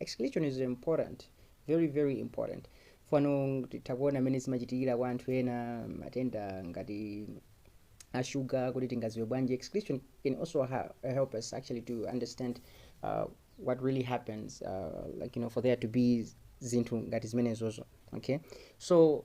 excretion is important very very important fano titha kuona mmene zimachitikira kwa anthu ena matenda ngati ashuga kuti tingaziwe bwanji excretion can also ha- help us actually to understand uh, what really happens uh, like you know for there to be zinthu ngati zimenezozo okay so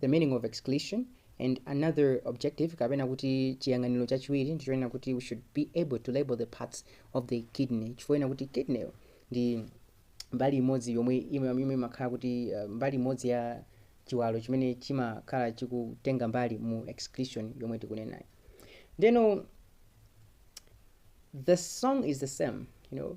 the meaning of excretion and another objective kapena kuti chiyang'aniro chachiwiri ndi chonena kuti we should be able to label the parts of the kidney chifukwa chonena kuti kidney ndi mbali imodzi yomwe ime- yomwe imakhala kuti uh, mbali imodzi ya chiwalo chimene chimakhala chikutenga mbali mu excretion yomwe tikunenayo ndeno the song is the same you know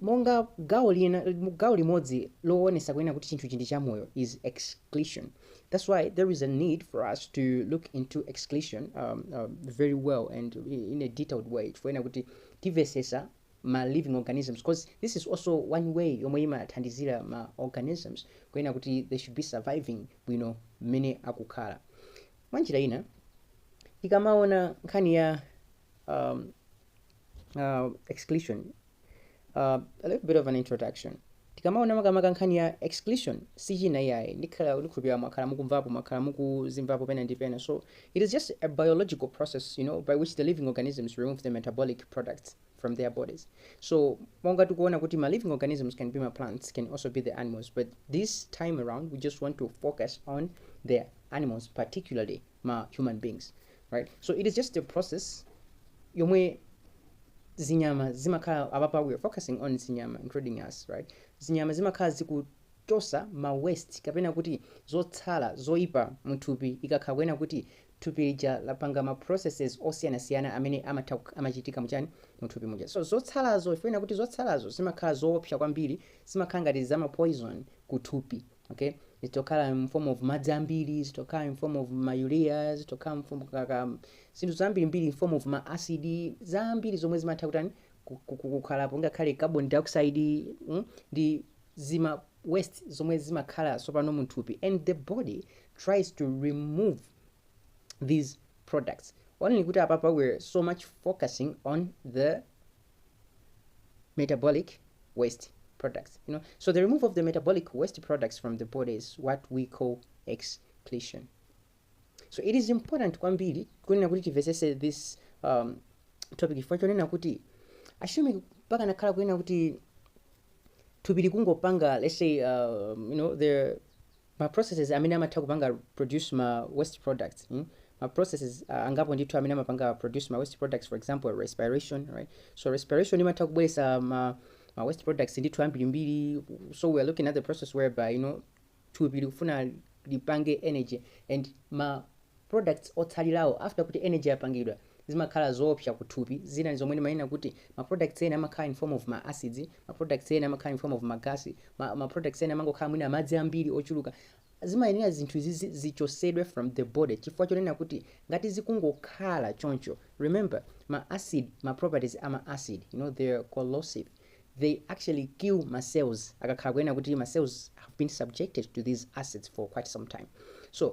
monga gawo lina gawo limodzi lowonesa kunena kuti chinthuchi ndi chamoyo is excretion that's why there is a need for us to look into excretion um, um, very well and in a detailed way kuena kuti tivesesa ma living organisms because this is also one way yomwe imathandizira ma organisms kuyena kuti they should be surviving bwino mmene akukhala mwanjira ina tikamaona nkhani ya um, uh, excretion uh, a little bit of an introduction tikamaona makamaka nkhani ya excretion si china iyayi ndikhala ndikhulupirira mwakhala mukumvapo mwakhala mukuzimvapo pena ndi pena so it is just a biological process you know by which the living organisms remove the metabolic products from their bodies so monga tikuona kuti ma living organisms can be ma plants can also be the animals but this time around we just want to focus on the animals particularly ma human beings right so it is just a process yomwe zinyama zimakhala apapa we are focusing on zinyama including us right zinyama zimakhala zikuchosa ma waste kapena kuti zotsala zoipa muthupi ikakhala kuena kuti thupi lija lapanga ma processes osiyanasiyana amene amatha kuk- amachitika muchani muthupi muja so zotsalazo ifena kuti zotsalazo zimakhala zoopsa kwambiri zimakhala ngati zama poison kuthupi okay zitokhala in form of madzi ambiri zitokhala in form of ma urea zitokhala in form kaya zinthu zambirimbiri in form of ma acid zambiri zomwe zimatha kutani ku- ku- ku- kukhalapo ngakhale carbon dioxide mm, ndi zima waste zomwe zimakhala tsopano munthupi and the body tries to remove these products only kuti apapa we're so much focusing on the metabolic waste products. You know, so the removal of the metabolic waste products from the body is what we call excretion. So it is important kwambiri kunena kuti timvetsetse this um, topic chifukwa chonena kuti assume pakanakhala kunena kuti thupi likungopanga let's say um, you know the ma processes amene amatha kupanga produce ma waste products mm ma processes uh, angapo ndithu amene amapanga produce ma waste products for example respiration right so respiration imatha kubweretsa ma, ma waste products ndithu ambirimbiri so we are looking at the process whereby you know thupi likufuna lipange energy and ma products otsalirawo after kuti energy yapangidwa zimakhala zoopsa ku thupi, zina ndi zomwe ndimanena kuti ma products ena amakhala in form of ma acids, ma products ena amakhala in form of ma gas, ma ma products ena amangokhala mwina madzi ambiri ochuluka, zimayenera zinthu izizi zichotsedwe from the body chifukwa chonena kuti ngati zikungokhala choncho, remember ma acid, ma properties a ma acid you know they are corrosive, they actually kill ma cells akakhala kunena kuti ma cells have been subjected to these acids for quite some time so,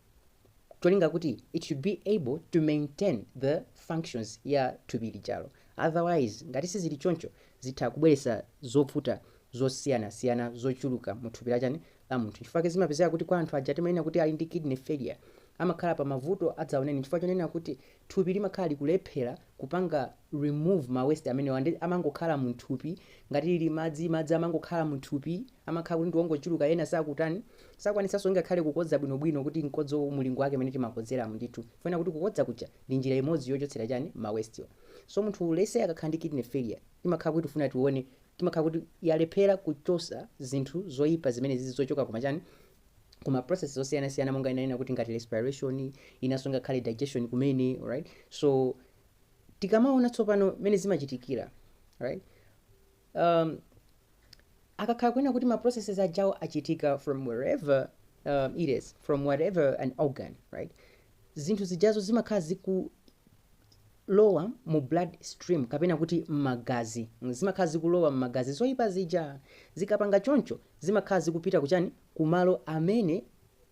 cholinga kuti it should be able to maintain the functions ya thupi lijalo otherwise ngati sizili choncho zitha kubweretsa zovuta zosiyanasiyana zochuluka mu thupi lachani la munthu chifukwa chake zimapezeka kuti kwa anthu aja timanena kuti ali ndi kidney failure amakhala pa mavuto adzaoneni chifukwa chonena kuti thupi limakhala likulephela kupanga remove ma waste amenewa nde amangokhala muthupi ngati lili madzi madzi amangokhala muthupi amakhala kuti ndiwongochuluka ena sakutani sakwanitsaso ngakhale kukodza bwino bwino kuti nkodzo mulingo wake mene timakodzeramo ndithu chifukwa kuti kukodza kuja ndi njira imodzi yochotsera chani ma waste wa so munthu let's say akakhala ndi kidney failure timakhala kuti tifuna tione imakhala kuti yalephera kuchosa zinthu zoyipa zimene zizi zochoka kuma chani ku ma processes osiyana siyana monga ndinanena kuti ngati respiration inaso ngakhale digestion kumene alright so tikamaona tsopano mene zimachitikira alright um, akakhala kunena kuti ma processes ajawo achitika from wherever um, it is from whatever an organ right zinthu zijazo zimakhala ziku lowa mu blood stream kapena kuti mmagazi zimakhala zikulowa mmagazi zoipa zija zikapanga choncho zimakhala zikupita kuchani kumalo amene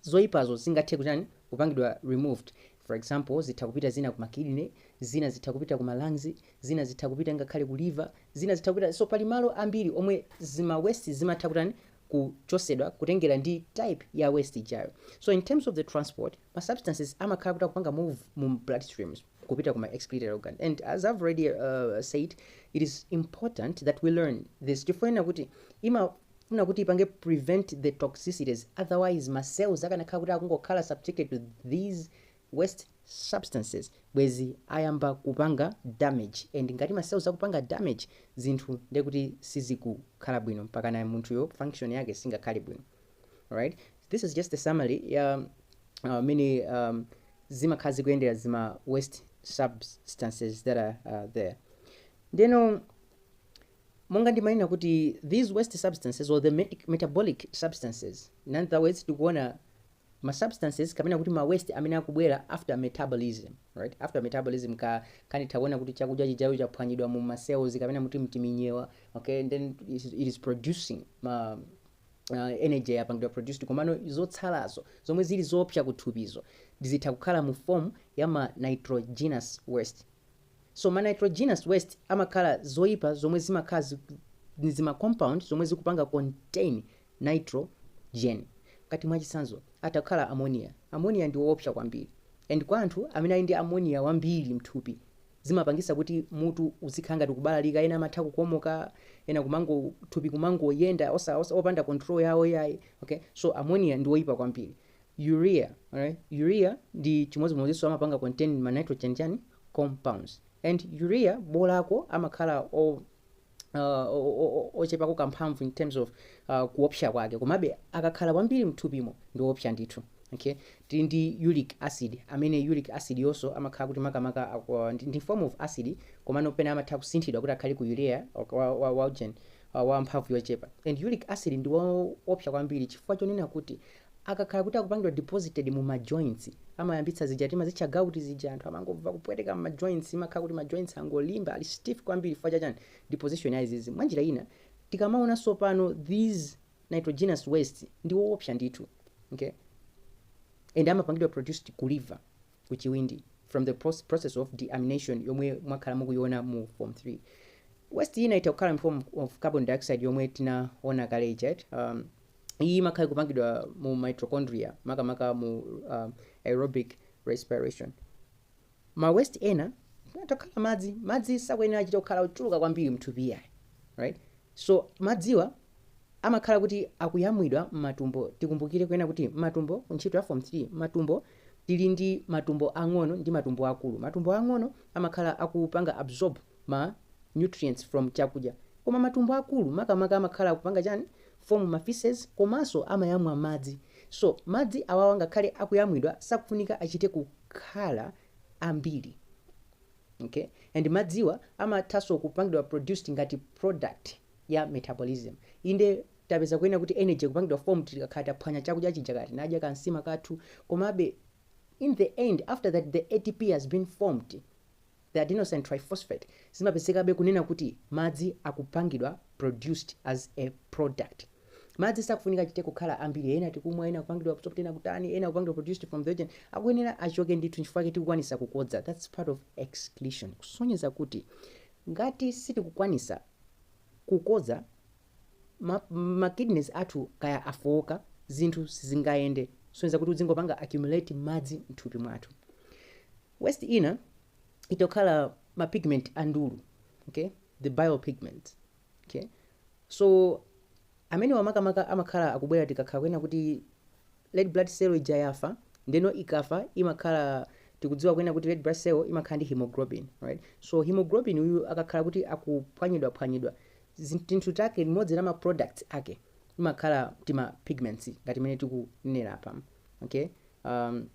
zoipazo zingathe kuchani kupangidwa removed for example zitha kupita zina kuma kidney zina zitha kupita kuma lungs zina zitha kupita ngakhale ku liver zina zitha kupita so pali malo ambiri omwe zima waste zimatha kutani kuchosedwa kutengera ndi type ya waste ijayo so in terms of the transport ma substances amakhala kuti akupanga move mu blood streams kupita ku ma excretory organ and as i've already uh, said it is important that we learn this chifukwa chonena kuti imafuna kuti ipange prevent the toxicities otherwise ma cells akanakhala kuti akungokhala subjected to these waste substances bwezi ayamba kupanga damage and ngati ma cells akupanga damage zinthu ndekuti sizikukhala bwino mpaka naye munthuyo function yake singakhale bwino alright this is just a summary ya uh, mmene um, zimakhala zikuyendera zima waste substances that are uh, there ndiyeno monga ndimanena kuti these waste substances or the met- metabolic substances in other words tikuona ma substances kapena kuti ma waste amene akubwera after metabolism right after metabolism tikanena tawona kuti chakudya chijayo chaphwanyidwa mu ma cells kapena kuti mtiminyewa okay and then it is- it is producing ma uh, energy yapangidwa produced komano zotsalazo zomwe zili zoopsa kuthupizo zitha kukhala mu form ya ma nitrogenous waste so ma nitrogenous waste amakhala zoyipa zomwe zimakhala zi- ni zima compound zomwe zikupanga contain nitrogen ngati mwachitsanzo atha kukhala ammonia ammonia ndi woopsa kwambiri and kwa anthu amene ali ndi ammonia wambiri mthupi zimapangisa kuti mutu uzikhala ngati kubalalika ena amatha kukomoka ena kumango thupi kumangoyenda osa osa opanda control yawo yayi okay so ammonia ndi oyipa kwambiri urea alright urea ndi chimodzimodzinso amapanga contain ma nitrogen chani compounds and urea bolako amakhala o uh, ochepako kamphamvu in terms of uh, kuopsa kwake komabe akakhala kwambiri mthupimo ndi oopsa ndithu okay tili ndi uric acid amene uric acid yonso amakhala kuti makamaka aku- ndi ndi form of acid komano pena amatha kusinthidwa kuti akhale ku urea ok, wa, wa, wa, gen- wa, wa mphamvu yochepa and uric acid ndi woopsa kwambiri chifukwa chonena kuti Akakhala kuti akupangidwa deposited mu ma joints, amayambitsa zija timazitcha gout zija, anthu amangomva kupweteka mma joints, imakhala kuti ma joints angolimba, ali stiff kwambiri chifukwa cha chani, deposition ya izizi. Mwanjira ina, tikamaona tsopano these nitrogenous wastes ndi oopsa ndithu okay and amapangidwa produced ku liver, ku chiwindi from the proce, process of deamination yomwe mwakhala mukuiona mu form 3. Waste ina itha kukhala in form of carbon dioxide yomwe tinaona kale ija eti. Iyi imakhala ikupangidwa mu mitochondria, makamaka mu um, aerobic respiration. Ma waste ena atha kukhala madzi. Madzi sakuyenera achita kukhala ochuluka kwambiri mthupi yayi. Right? So madziwa amakhala kuti akuyamwidwa m'matumbo. Tikumbukire kunena kuti m'matumbo ku ntchito ya form 3, matumbo tili ndi matumbo ang'ono ndi matumbo akulu. Matumbo ang'ono amakhala akupanga absorb ma nutrients from chakudya koma matumbo akulu makamaka amakhala akupanga chani form ma faeces komanso amayamwa madzi so madzi awawa ngakhale akuyamwidwa sakufunika achite kukhala ambiri okay and madziwa amathanso kupangidwa produced ngati product ya metabolism inde tapeza kunena kuti energy ikupangidwa formed tikakhala taphwanya chakudya chija kaya tinadya kansima kathu komabe in the end after that the ATP has been formed The adenosine triphosphate zimapezekabe kunena kuti madzi akupangidwa produced as a product. Madzi sakufunika achite kukhala ambiri ena tikumwa ena kupangidwa absorbed ena kutani ena kupangidwa produced from the oxygen akuyenera achoke ndithu nchifukwa chake tikukwanisa kukodza that's part of excretion kusonyeza kuti ngati sitikukwanisa kukodza ma, ma kidneys athu kaya afowoka zinthu sizingayende kusonyeza kuti udzingopanga accumulate madzi mthupi mwathu Waste ina itha kukhala ma pigment a ndulu, okay, the bile pigments, okay, so amenewa makamaka amakhala akubwera tikakhala kunena kuti red blood cell ija yafa, ndeno ikafa imakhala tikudziwa kunena kuti red blood cell imakhala ndi hemoglobin, right, so hemoglobin uyu akakhala kuti akuphwanyidwaphwanyidwa, zi, tinthu take, limodzi la ma products ake imakhala tima pigments ngati mmene tikunenera apa, okay, um,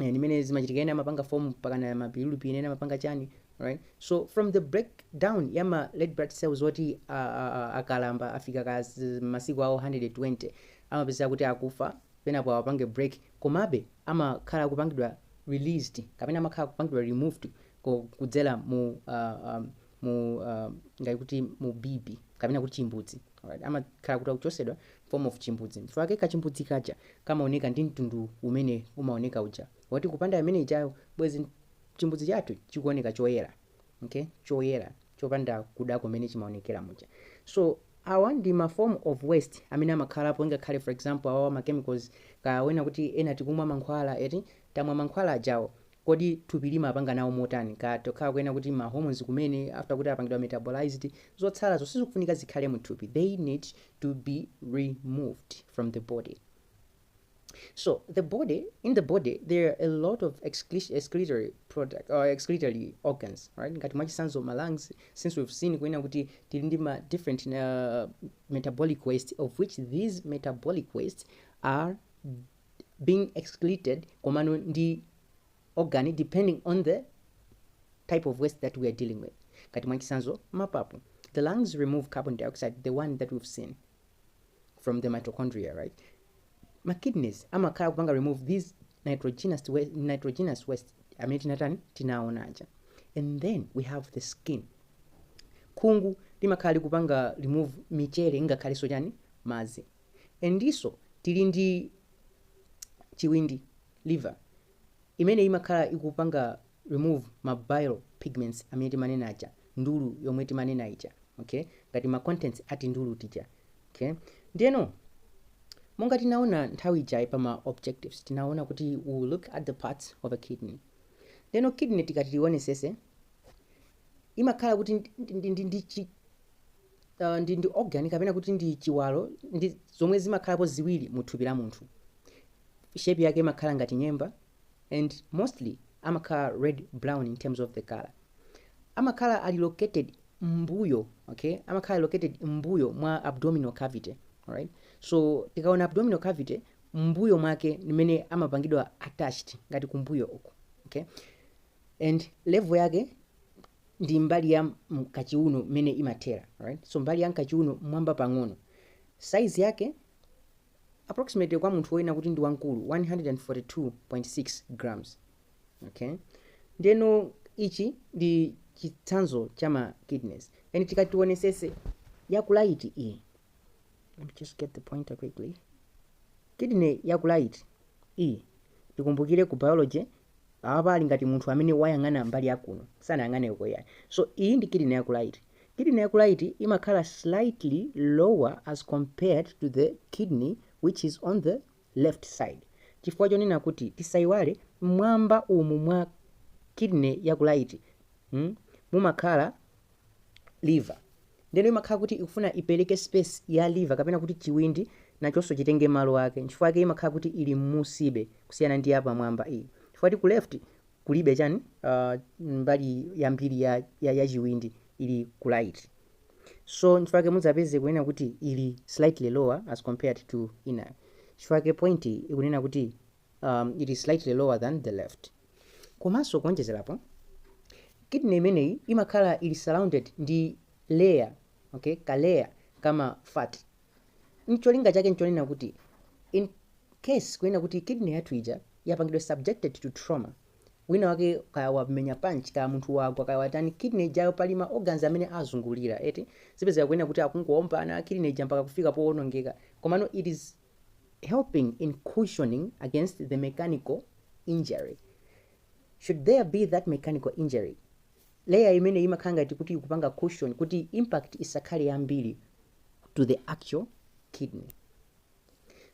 eh, ndi mmene zimachitika ena amapanga form pakana ma bilirubin ena amapanga chani right so from the breakdown ya ma red blood cells oti a- a- a- akalamba afika ka z- masiku awo 120 amapezeka kuti akufa penapo awapange break komabe amakhala akupangidwa released kapena amakhala akupangidwa removed ko- kudzera mu uh, um, mu uh, ngati kuti mu bibi kapena kuti chimbudzi alright amakhala kuti akuchosedwa form of chimbudzi nchifukwa chake kachimbudzi kaja kamaoneka ndi mtundu umene umaoneka uja wati kupanda amene ajawo bwezi chimbudzi chathu chikuoneka choyera okay choyera chopanda kuda kumene chimaonekera muja so awa ndi ma form of waste amene amakhalapo ngakhale for example awawa ma chemicals kunena kuti ena tikumwa mankhwala eti tamwa mankhwala ajawo Kodi thupi limapanga nawo motani itha kukhala kunena kuti ma hormones kumene after kuti apangidwa metabolized zotsalazo sizikufunika zikhale mu thupi they need to be removed from the body so the body in the body there are a lot of excre- excretory product or excretory organs right ngati mwachisanzo ma lungs since we've seen kunena kuti tili ndi ma different uh, metabolic waste of which these metabolic waste are being excreted komano ndi organ depending on the type of waste that we are dealing with ngati mwachisanzo mapapu the lungs remove carbon dioxide the one that we've seen from the mitochondria right ma kidneys amakhala kupanga remove these nitrogenous waste, nitrogenous waste amene tinatani tinaona aja and then we have the skin khungu limakhala likupanga remove michere ingakhalenso chani madzi and ndiso tili ndi chiwindi, liver, imene imakhala ikupanga remove ma bile pigments amene timanena aja, ndulu yomwe timanena ija, okay, ngati ma contents a tindulu tija, okay. Ndiyeno monga tinaona nthawi ija pa ma objectives, tinaona kuti we will look at the parts of a kidney. Ndiyeno kidney tikati tionesese imakhala kuti ndi, ndi, ndi, ndi chi, ndi ndi organ kapena kuti ndi chiwalo zomwe zimakhalapo ziwiri mu thupi la munthu shape yake imakhala ngati nyemba and mostly amakhala red brown in terms of the color amakhala ali located mmbuyo okay amakhala located mmbuyo mwa abdominal cavity alright so tikaona abdominal cavity mmbuyo mwake ndi mmene amapangidwa attached ngati kumbuyo uku okay and level yake ndi mbali ya m'kachiuno mmene imathera right so mbali ya m'kachiuno mmwamba pang'ono size yake approximately kwa munthu wonena kuti ndi wamkulu 142.6 grams okay ndeno ichi ndi chitsanzo cha ma kidneys and tikatiwonesese yaku right iyi let me just get the pointer quickly kidney yaku right iyi tikumbukire ku biology Apapa ali ngati munthu amene wayang'ana mbali ya kuno, sanayang'ane uko iyayi. So, iyi ndi kidney yaku right. Kidney yaku right imakhala slightly lower as compared to the kidney which is on the left side. Chifukwa chonena kuti tisayiwale mmwamba umu mwa kidney yaku right, hmm, mumakhala liver ndeno imakhala kuti ikufuna ipereke space ya liver kapena kuti chiwindi nachonso chitenge malo ake nchifukwa ake imakhala kuti ili mmusibe kusiyana ndi yapamwamba iyi chifukwa choti ku left kulibe chani uh, mbali yambiri ya, ya, ya chiwindi ili ku right so nchifukwa chake mudzapeze kunena kuti ili slightly lower as compared to inayo chifukwa chake point ikunena kuti um, it is slightly lower than the left Komanso kuonjezerapo, kidney imeneyi imakhala ili surrounded ndi layer, okay, ka layer kama fat. Ncholinga chake nchonena kuti in case kunena kuti kidney yathu ija yapangidwa subjected to trauma, wina wake kaya wamenya punch, kaya munthu wagwa, kaya watani, kidney ijayo pali ma organs amene azungulira eti, zizipezeka kunena kuti akungowombana, kidney ija mpaka kufika powonongeka. Komano it is helping in cushioning against the mechanical injury should there be that mechanical injury layer imeneyi imakhala ngati kuti ikupanga cushion kuti impact isakhale yambiri to the actual kidney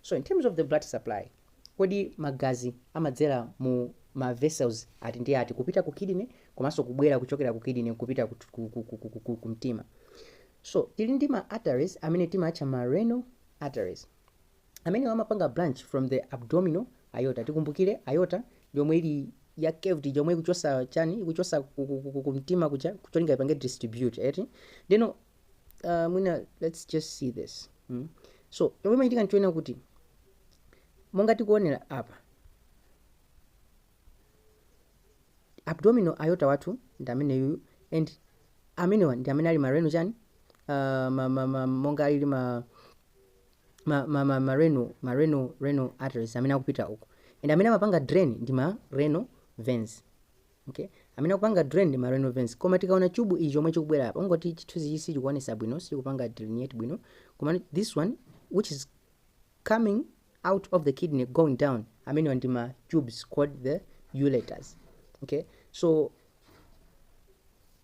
so in terms of the blood supply kodi magazi amadzera mu ma vessels ati ndi ati kupita ku kidney komanso kubwera kuchokera ku kidney kupita ku, ku, ku, ku, ku, ku, ku mtima so tili ndi ma arteries amene timatcha ma renal arteries. Amenewa amapanga branch from the abdominal aorta. Tikumbukire aorta ndi yomwe ili ya curved ija yomwe ikuchosa chani ikuchosa ku- ku- ku- ku- kumtima kuja kucholinga ipange distribute eti ndeno uh, mwina let's just see this mm. so yomwe imachitika nchoena kuti monga tikuonera apa abdominal aorta wathu ndi ameneyuyu and amenewa ndi amene ali ma renal chani uh, ma, ma, ma, monga alili ma ma, ma, ma, ma renal, ma renal, renal arteries amene akupita uku and amene amapanga drain ndi ma renal veins okay amene akupanga drain ndi ma renal veins koma tikaona chubu ichi chomwe chikubwera apa ungoti chithunzichi sichikuonesa bwino sikupanga delineate bwino koma this one which is coming out of the kidney going down amenewa ndi ma tubes called the ureters okay so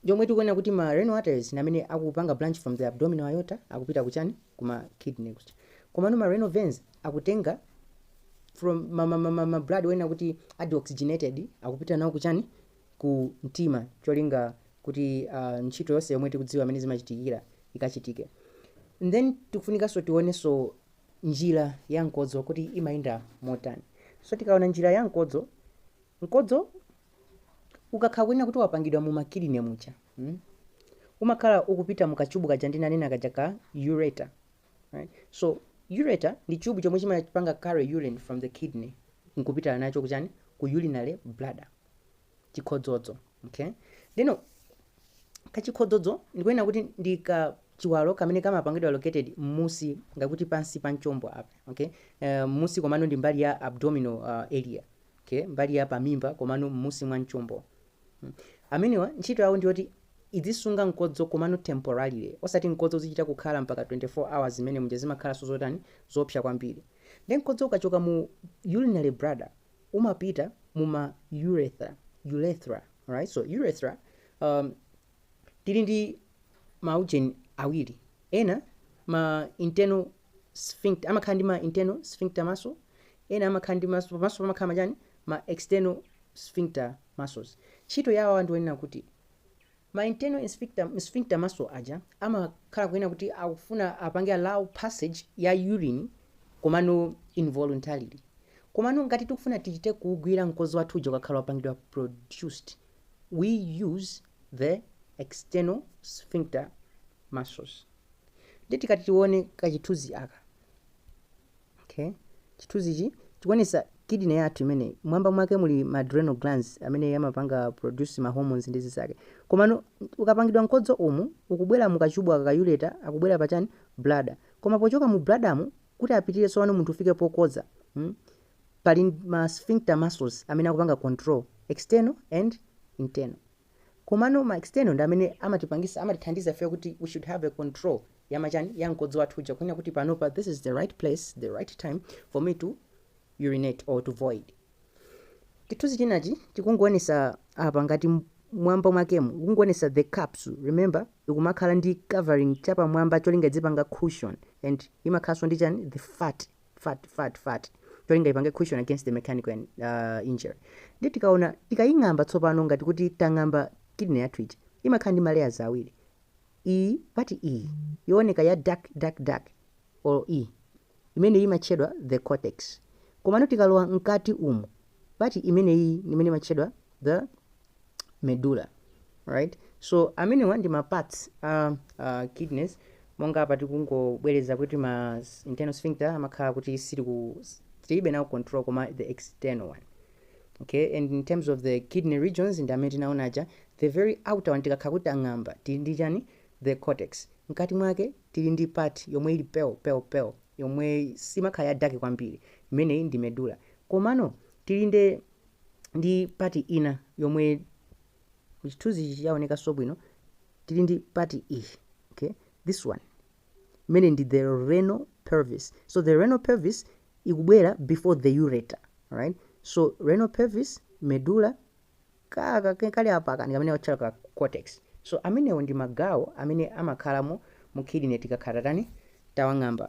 yomwe tikuona kuti ma renal arteries namene akupanga branch from the abdominal aorta akupita kuchani kuma kidney kuja komano ma renal veins akutenga from ma, ma, ma, ma, ma blood onena kuti adeoxygenated akupita nawo kuchani ku mtima cholinga kuti ntchito yonse yomwe tikudziwa mmene zimachitikira ikachitike. Then tikufunikanso tionenso njira ya mkodzo kuti imayenda motani. So tikaona njira ya mkodzo, mkodzo ukakhala kunena kuti wapangidwa mu makidney muja mm? umakhala ukupita mu kachubu kaja ndinanena kaja ka ureter right? so ureter ndi chubu chomwe chimapanga carry urine from the kidney nkupita nacho kuchani ku urinary bladder chikhodzodzo okay ndeno kachikhodzodzo ndikunena kuti ndi ka chiwalo kamene kamapangidwa located mmusi ngakuti pansi pa mchombo apa okay uh, mmusi komano ndi mbali ya abdominal uh, area okay mbali ya pamimba komano mmusi mwa mchombo hmm. amenewa ntchito yawo ndiyoti idzisunga mkodzo komano temporarily osati mkodzo uzichita kukhala mpaka 24 hours zimene zija zimakhalaso zotani zopsa kwambiri then mkodzo ukachoka mu urinary bladder umapita muma urethra urethra alright so urethra um, tili ndi maujeni awiri ena ma internal sphincter amakhala ndi ma internal sphincter muscle ena amakhala ndi maso pamaso pamakhala machani ma external sphincter muscles ntchito yawo ndi yonena kuti Ma internal sphincter, sphincter muscle, aja amakhala kunena kuti akufuna apange allow passage ya urine komano involuntarily komano ngati tikufuna tichite kuugwira mkozo wathu uja ukakhala wapangidwa produced we use the external sphincter muscles nde tikati tione kachithunzi aka Okay. Chithunzichi chikuonetsa kidney yathu imene mwamba mwake muli ma adrenal glands amene amapanga produce ma hormones ndi zinzake. Komano ukapangidwa mkodzo umu ukubwera mu kachubu aka ka ureter akubwera pa chani bladder. Koma pochoka mu bladder mu kuti apitire tsopano munthu afike pokodza. Mm? Pali ma sphincter muscles amene akupanga control external and internal. Komano ma external ndi amene amatipangisa amatithandiza ifeyo kuti we should have a control yama chani ya mkodzo wathu uja kunena kuti panopa this is the right place the right time for me to urinate or to void. Chithunzi chinachi chikungoonetsa apa ngati mwamba mwakemu mukungoonetsa the capsule remember ikumakhala ndi covering chapamwamba cholinga idzipanga cushion and imakhalanso ndi chani the fatty fat fat fat cholinga ipange cushion against the mechanical and, uh, injury ndiye tikaona tikaying'amba tsopano ngati kuti tang'amba kidney yathu ija imakhala ndi malayers awiri iyi part iyi yooneka ya dark dark dark or iyi imene imatchedwa the cortex komano tikalowa mkati umu part imeneyi imene imatchedwa the medulla right so amenewa ndi ma parts a uh, kidneys monga apa tikungobwereza kuti ma s- internal sphincter amakhala kuti sili ku tilibe nawo control koma the external one okay and in terms of the kidney regions ndi amene tinaona aja the very outer one tikakhala kuti tang'amba tili ndi chani the cortex mkati mwake tili ndi part yomwe ili pale pale pale yomwe simakhala ya dark kwambiri imeneyi ndi medulla komano tili ndi ndi part ina yomwe mu chithunzi ichi chaonekanso bwino tili ndi part iyi okay this one imene ndi the renal pelvis so the renal pelvis ikubwera before the ureter right so renal pelvis medulla kaka ke- kali apaka ndi kamene atcha ka cortex so amenewo ndi magawo amene amakhalamo mu kidney tikakhala tani tawang'amba